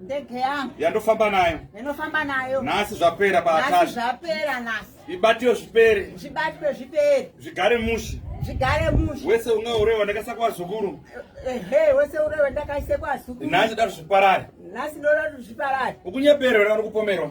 ndege yangu yandofamba nayo ndinofamba nayo nhasi zvapera paatari zvapera nhasi ibatiwe zvipere zvibatwe zvipere zvigare mushi zvigare mushi wese unga urewa ndakaisa kwazukuru ehe wese urewa ndakaise kwazukuru nhasi dati zviparare nhasi ndoda kuti zviparare ukunyeperera uri kupomerwa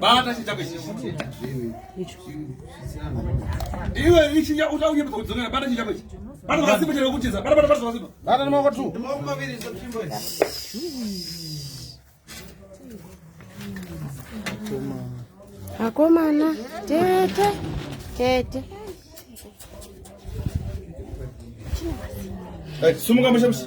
Bata chitako ichi. Iwe ichi ya uta uye kudzonera bata chitako ichi. Bata wasipo chero kutiza. Bata bata bata wasipo. Bata noma kwatu. Noma maviri zopimbo. Akomana tete tete. Sumuka mushamsi.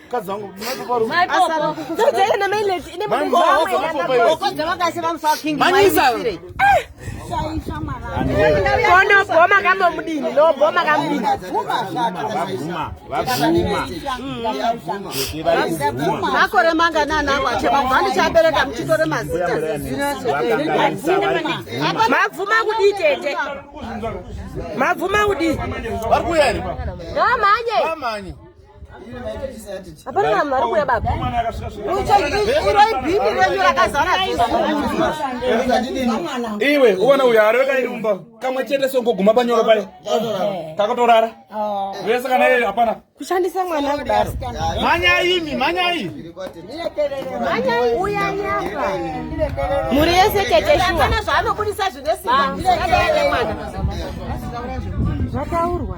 mukadzi wangu konobhoma kamomudini nobhoma kamudini makore manganani ako achemabva ndichabereka muchitore mazita mabvuma kudii tete mabvuma kudii vari kuya here hapana vanhu vari kuuya baba uchaibhimi renyu rakazara iwe uvana uyo ari vekaimba kamwe chete songoguma panyoro paye kakatorara vese kana iye hapana kushandisa mwana kudaro manyai imi manyai manyai uya nyaka mhuri yese tete shuwa zvaanobudisa zvine simba zvataurwa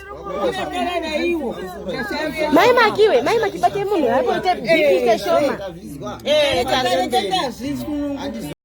Mai makiwe, mai makibate munhu hapo ite bikishe shoma. Eh,